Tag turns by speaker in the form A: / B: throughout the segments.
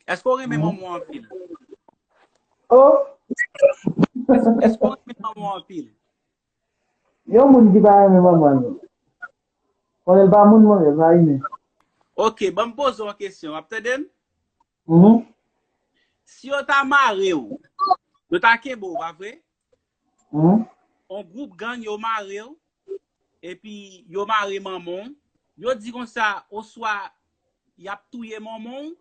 A: Eske ou renmen manman ou anpil?
B: Oh!
A: Eske ou renmen manman ou anpil?
B: Yon moun ki pa renmen manman l. Bon, lè l pa moun mwen, lè l pa imen. Ok, ban m
A: poze w yon kesyon. W ap tande m? Mh. Si yo ta mare ou, yo ta kenbe ou, pa vre?
B: On group
A: gang yo marew epi yo mare manmanw yo di konsa oswa yap touye manmanw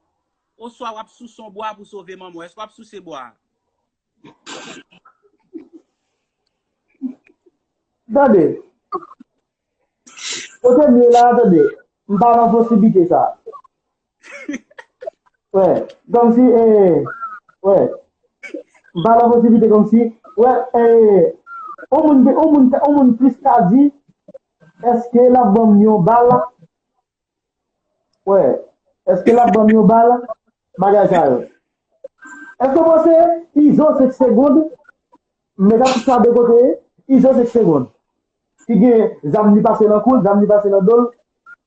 A: oswa wap sous on bwa pou sove manmanw eske wap souse bwa a.
B: Tande. Kotem ye la tande. Mpa nan posibite sa. Wè, kòm si e, wè, m pa nan posiblite kòm si, wè, e, on moun gen, on moun, on moun plis ka di, èske l ap ban m yon bal, wè, èske l ap ban m yon bal, bagay sa yo. Èske w panse Izo se k segond, m met atitisa de kote, Izo se k segond, ki gen zam li pase nan kou l, zam li pase nan do l,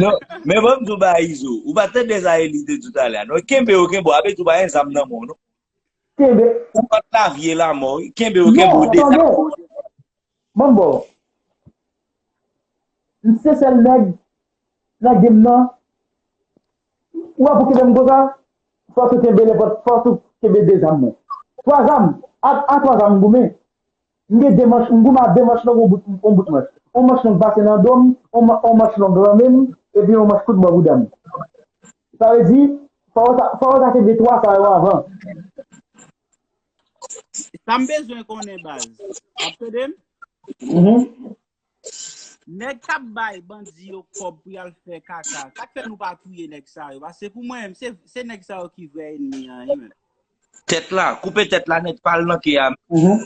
C: Non, men mwen mdou ba Izo, ou pa tande sa Eli te di talè a non, kenbe yo kenbe w, ape di w pa gen zam nan men w non. Kenbe. Ou kont lavi e lanmò wi, kenbe yo kenbe w Non, tande, deja.
B: manbo, m se sèl nèg nan game nan, ou wè pou kenbe m konsa, fòk ou kenbe nenpòt, fòk ou kenbe 2 zam mwen. 3 zam, a 3 zam m goumen, M gen 2 manch, m goumen a 2 manch long on bout on bout manch. On manch long pase nan do m, on on manch long lan men m, epi on manch kout bò bouda m. Sa vle di, fò w ta fò w ta kenbe 3 sa yo avan. Sa m bezwen konnen baz.
A: Ap tande m? Nèg kap bay bandi yo kòb pou yal fè kaka, sak fè nou pa touye nèg sa yo, paske pou mwen menm, se nèg sa yo ki vrè enmi an wi menm. Tèt la,
C: koupe tèt la nèt pal nan ke a menm.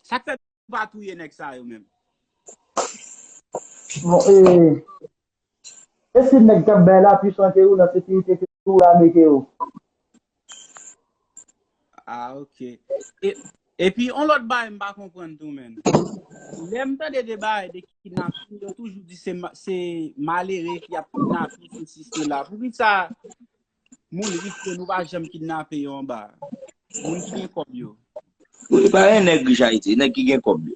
A: Sak fè nou pa touye nèg sa yo menm.
B: Esi neg kap bay la pi chante ou nan sekirite ke tou lame ke ou.
A: Ah ok. Epi yon lot bagay m pa konprann tou menn. Lem tande de bagay de kidnaping yo toujou di se malere ki ap kidnape sesi sela. Poukisa moun rich yo nou pa janm kidnape yo anba a? Moun ki gen kob yo. Epa e
C: neg rich ayiti e neg ki gen kob yo.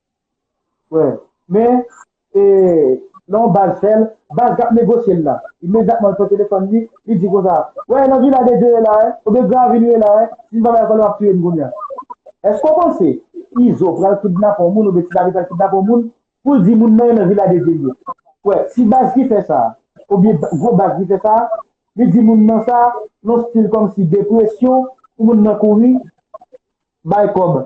B: Wè, men, e, lè yon baz fè l, baz k ap negosye l la, imedyatman l pran telefòn li, li di konsa, Wè, nan Vila de Dye yo la, hein, oubyen Gravil yo la, hein, si n pa bay kòl yo ap tiye n kounye a. Èske w panse Izo pral kidnape yon moun oubyen Ti Lavi pral kidnape yon moun pou l di moun nan yo nan Vila de Dye l ye? Wè, si baz ki fè sa a, oubyen gwo baz ki fè sa a, li di moun nan sa, yon stil kòmsi de presyon pou moun nan kouri bay kòb.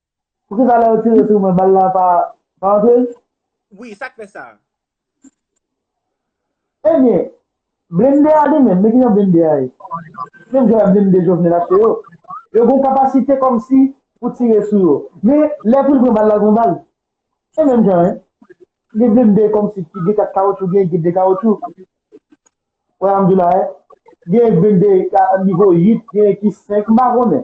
B: Pouki sa lè yo tire sou mwen bal la pa antre? Wi, sa k fè
A: sa?
B: Ebyen, blende a li menm, men ki jan blende a ye? Menm jan ak blende Jovenel achte yo. Yo gen kapasite kòmsi pou tire sou yo. Men, lè pou l pran bal la l pran bal. Se menm jan an. Gen blende kòmsi ki gen 4 kawotchou, gen ki gen 2 kawotchou. Wè sa m di w la a? Gen blende ki a nivo 8, gen ki 5, m pa konnen.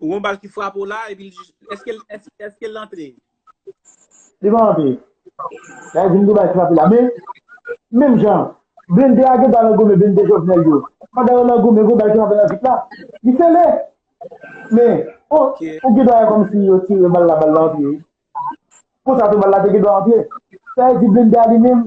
A: Ou gon bal ki frape w la epi l jis. Eske
B: l eske l antre? Li pa antre. Sa vle di m gen bal ki frape la. Men, menm jan, blende a gen dwa nan goumen blende Jovenel yo. Pandan yo nan goumen, gen yon bal ki frape nan vit la. Li sele. Men, o, ou gen dwa wè kòm si yo tire bal la, bal la antre wi. Konsa tou bal la te gen dwa antre. Sa vle di blende a li menm,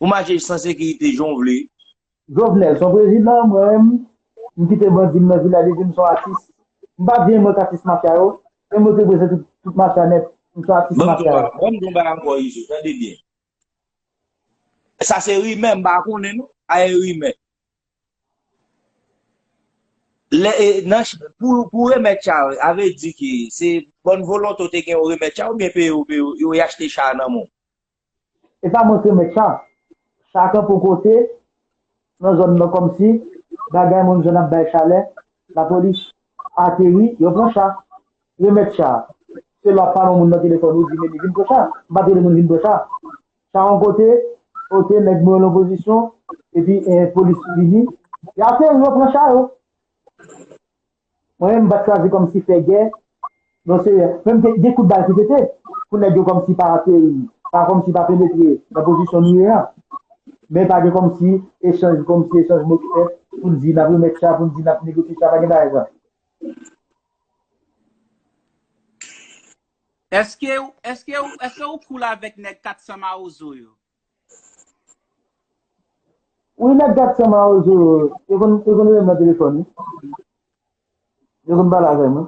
C: Ou mache san sekirite jan w vle. Jovenel son
B: prezidan mwen menm m kite bandi m nan vila li di m son atis m pa di mwen k atis mafya yo men mwen te breze tout mafya nèt m son atis mafya yo. Banm di yon bagay ankò
C: Izo tande byen sa se rimè m pa konnen non a e rimè lè e nan pou remèt cha yo a vle di ke se bòn volonte w te gen yo remèt cha yo oubyen peye yo peye yo yo y achte cha a nan men w. E sa
B: montre mèt chan. Chan kanpe yon kote nan zòn nan kòmsi bagay moun zòn nan ap bay chalè. Lapolis ateri, yo pran chan. Remèt chan an. Se lè w ap pale yon moun nan telefòn ou di men li vin pran chan an. M pa t rele moun vin pran chan an. Chan an yon kote, ok nèg mwen yo nan pozisyon epi polis vini. Y ateri yo pran chan yo. Mwen menm m pat chwazi kòmsi fè gè non seyè menm gen kout bal ki pete pou nèg yo kòmsi pa ateri pa kòmsi pa penetre nan pozisyon nou ye an men pa gen kòmsi echanj kòmsi echanj mo ki fèt pou n di nap remèt cha pou n di nap negosye cha pa gen bagay sa. Eskew eskew
A: eskew cool avek neg 400 mawozo yo.
B: Wi nèg gat san mawozo yo, yo konn yo konn rele m nan telefòn wi. Yo konn pale avè m wi.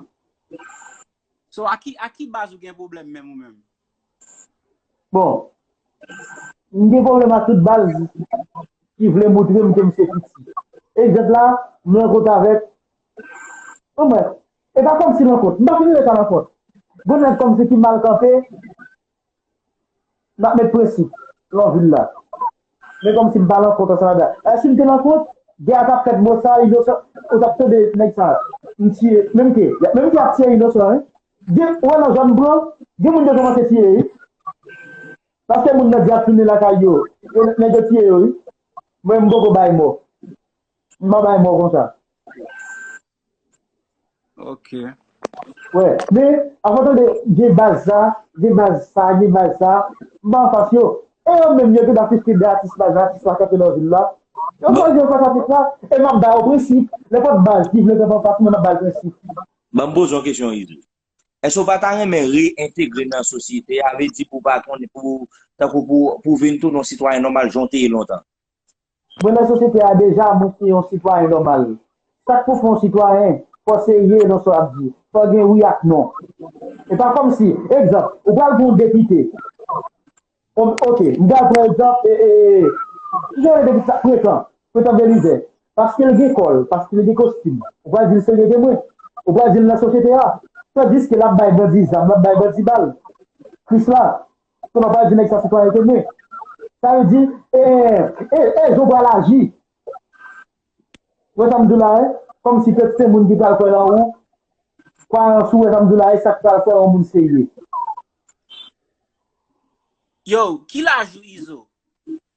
A: So a ki a ki baz ou gen pwoblèm menm ou menm?
B: Bon, m gen pwoblèm ak tout baz ki vle moutre m ke m se piti. Egzanp la, m rankont avèk, bon brèf, e pa kòmsi rankont, m pa fin rele sa rankont. Bon nèg kòmsi ki mal kanpe. Nap met prensip lan vil la. Men komsi m pa lan kont ansanm avè. Eh sim te lan kont gè a tap fèt mwen sa inosan ou tap tande nèg sa m tiye menm ke menm ke yap tiye inosan wi gen ou wè nan zòn m pran gen moun yo komanse tiye wi paske moun nan di yap tounen lakay yo nèg yo tiye yo wi mwen m poko bay mò m pa bay mò konsa.
A: Ok. Wè,
B: men, avan w tande gen baz sa, gen baz sa, gen baz sa, m pa anfas yo. E yo menm yo te ba fifty de atis la, jan atis la kanpe nan vil la. Yo Bon, chwazi anfas atis la, e m ap ba yo prensip. Lè pa t baz ki vle kanpe anfas mwen, m ap ba l prensip. Ban m poze yon
C: kesyon Izo. Èske w pa ta renmen reyentegre nan sosyete a, vle di pou w pa konn, pou w, tankou pou w, pou w vin tounen yon sitwayen nòmal jan w te ye lontan? Mwen nan
B: sosyete a deja mwen se yon sitwayen nòmal. Sak pou fè yon sitwayen, fò se ye nan sa w ap di, fò gen wi ak non. E pa kòmsi, egzanp, ou pral pran yon depite, ok, m pral pran egzanp e e e ki jan yo rele depite sa, Pretan, Pretan Belizè, paske l gen kò l, paske l gen kostim, ou pral di l se lide mwen, ou pral di l nan sosyete a, tandiske l ap bay bandi zam, l ap bay bandi bal. Krisla, Pou mwen pa di nèg sa sitwayènte mwen. Sa vle di, e, e, e jan w pral aji. Ou wè sa m di w la e? Kòm si pèp se moun ki pral kwè nan ou. Kwayans ou wè sa m di w la e, sa k pral fè yon moun serye.
A: Yow, ki laj ou Izo?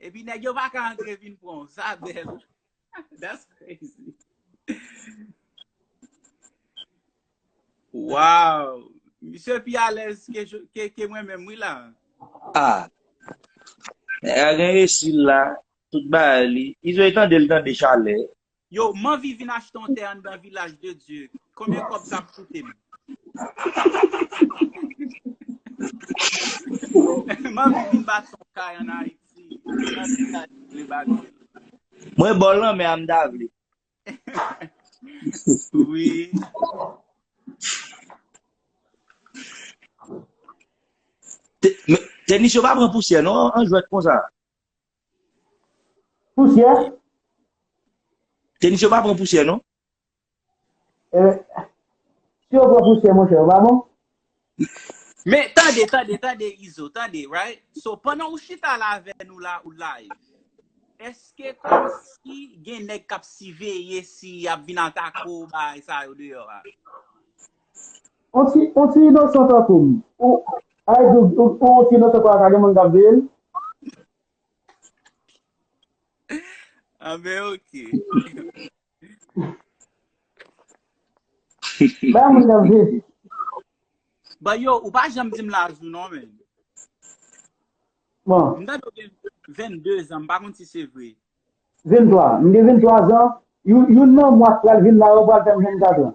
A: Epi nèg yo paka antre vin pran w. Sa bèl. That's crazy. Wow. Misye pi alèz ke mwen menm wi la. Ah.
C: Nèg la gen resil la. Tout bagay li. Izo e tande li tande chalè. Yo m anvi
A: vin achte yon tè anndan vilaj de Dye konbyen kòb sa ap koute m? M anvi vin bati yon kay an Ayiti nan vilaj m vle bati l. Mwen bò
C: lanmè a m ta vle. Teknisyen ou pa pran pousyè non an jwèt konsa.
B: Pousyè?
C: Tenis yo pa pran pousyè non. E,
B: si yo pran pousyè monchè, yo pa bon?
A: Men, tande, tande, tande Izo, tande, right? So, pandan ou chita la avè nou la, ou live. Eske kòm si gen nèg k ap siveye si y ap vin atake ou bay sa yo deyò a?
B: On ti, on ti inosan tankoum. Ou, ay di ou, ou on ti inosan pa ka gen moun kap veye l.
A: Ah ben ok.
B: Ba moun kap veye.
A: Ba yo, ou pa janm di m laj ou non men. Bon.
B: M ta do gen
A: 22 zan, m pa konn si se vre. 23, m
B: gen 23 zan, youn nan mwa k pral vin la yo pral fè m 24 an.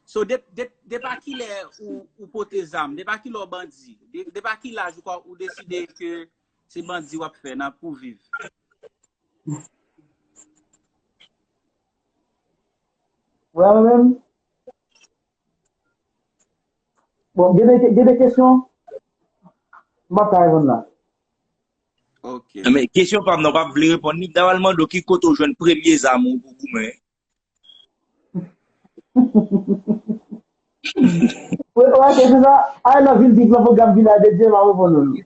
A: So depi a kilè ou pote zam, depi a kilè ou bandi, depi a ki laj ou deside ke se bandi w ap fè nan pou viv?
B: Wè mwen menm? Bon, gen de, gen de kesyon m ap ka reponn la.
A: Ok. Men, kesyon
C: pa m nan, w pa vle reponn li. M ta pral mande w ki kote w jwenn premye zam ou pou goumen.
B: Ou wè kesyon sa? Al nan Vil Bib lan, pwogram Vilaj de Dye, m a reponn ou l.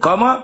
B: Kòman?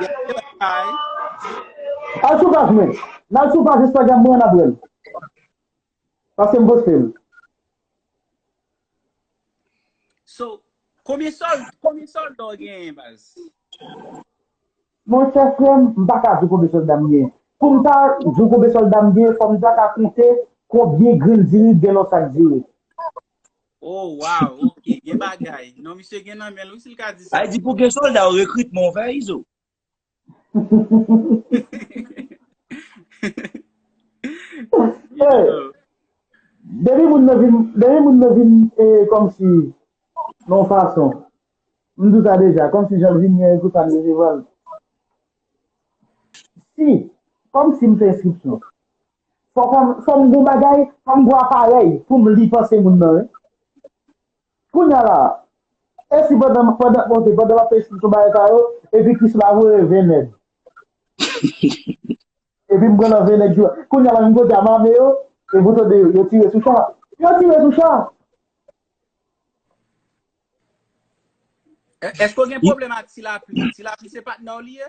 A: Gen anpil bagay.
B: Al sou paj mwen. Nal sou paj Instagram mwen nap wèl. Paske m postel. So, konbyen sòl,
A: konbyen sòlda w genyen baz?
B: Monchè frè m, m pa ka di w konbyen sòlda m genyen. Pou m ta di w konbyen sòlda m genyen, fò m ta ka konte konbyen grenn diri k gen nan yon sak diri. Oh
A: waw ok gen bagay. Non misye gen nan menl wi sil ka di sa. Ayiti pou gen solda ou
C: rekritman ou fè izo.
B: Izo.
A: Depi
B: moun nan vin depi moun nan vin e komsi non fason m di w sa deja komsi jan l vin gen pou sa m resevwa l si komsi m fè enskripsyon Fòm gou bagay, fòm gou aparèy pou m li panse moun nan. Kounya la, e si pandan m pandan m monte, pandan m ap esplike yon bagay sa yo, epi kis la voye 20 nèg. Epi m pran nan 20 nèg yo. Kounya la menm kote a m ame yo, epi ou tande yo tire sou cha. Yo tire sou cha! Èske ou gen
A: pwoblèm ak Ti Lapli? Ti Lapli se patnè w li ye?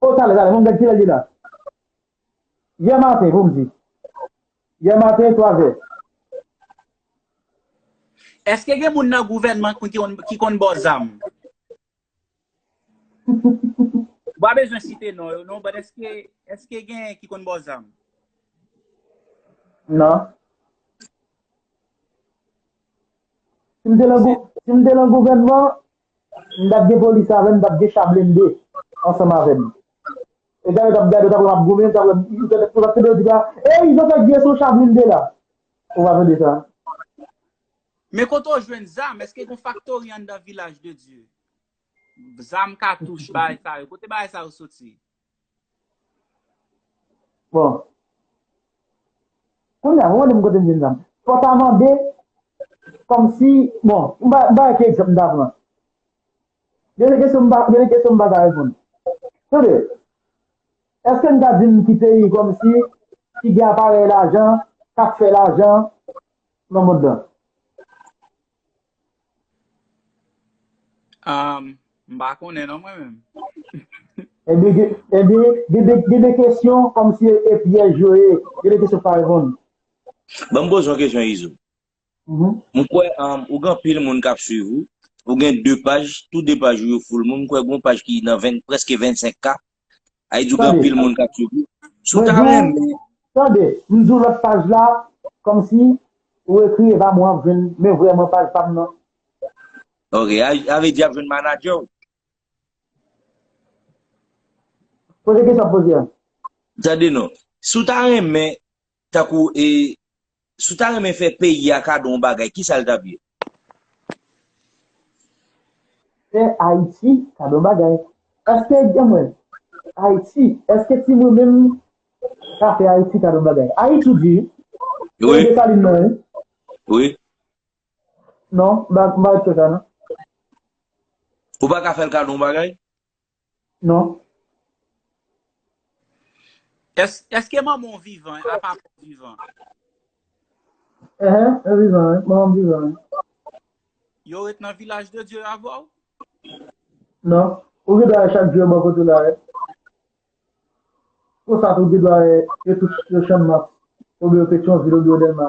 C: Oh tale
B: tale fom gad kilè li la Yè maten poum di Yè maten 3 zè.
A: Eske gen moun nan gouvènman ki konn bo zam? M pa bezwen site non yo non but eske gen ki konn bo zam?
B: Non. Si m te nan gouvènman M tap gen polis avè m, m tap gen cha blende ansanm avè m. Etan yo tap gade w tap wè m ap goumen, yo tap wè m, yo tap tande yo di la, Ey, izo fèk vye son cha blende la. Ou pa tande sa?
A: Men kote w jwenn zam? Eske gon faktori anndan Vilaj de Dye? Zam, katouch, bagay sa yo. Kote bagay sa yo soti?
B: Bon. Kounye a, mwen menm kote m jwenn sa m. Fò ta mande, kòm si, bon, m ba, m ba yon ti egzanp m ta pran. Gen de kesyon m pa, gen de kesyon m pa ka reponn. Tande, èske n ka di m ki peyi kòm si ki gen aparèy lajan k ap fè lajan nan mond lan?
A: Ahm m pa konnen non mwen menm.
B: Ebyen gen ebyen gen de gen de kesyon kòm si e pyèj yo ye, gen de kesyon k pa reponn. Ban m poze
C: yon kesyon Izo. M kwè ou gen anpil moun k ap swiv ou. Ou gen 2 paj, tou 2 paj ou yo full moun. M kwè gen yon paj ki nan 20 prèske 25 k. Ayiti gen anpil moun kap swiv li. Si w ta renmen. Tande, m
B: di w lòt paj la, kòmsi ou ekri epa m wè w ap jwenn men vrèman paj pa m nan.
C: Ok, sa vle di y ap jwenn manadjè w?
B: Poze kesyon w ap poze an. Tande non,
C: si w ta renmen Tankou e si w ta renmen fè peyi a kado yon bagay, ki sa l t ap ye?
B: Fè Ayiti kado yon bagay. Èske gen mwen? Ayiti, èske ti mwen menm ka fè Ayiti kado yon bagay? Ayiti di wi. Se yon Desalin
C: non wi. Wi.
B: Non, m pa kwè sa non.
C: Ou pa ka fè l kado yon bagay? Non.
A: Eske manman w vivan a papa w vivan? Ehe,
B: yo vivan wi, manman m vivan wi.
A: Yo ret nan vilaj de Dye avè w?
B: Non. Ou gen dwa wè chak jou yo bò kote w la wè. Konsa tou ou gen dwa wè yo tout yo Channmas oubyen yo Petyonvil oubyen yo Dèlma.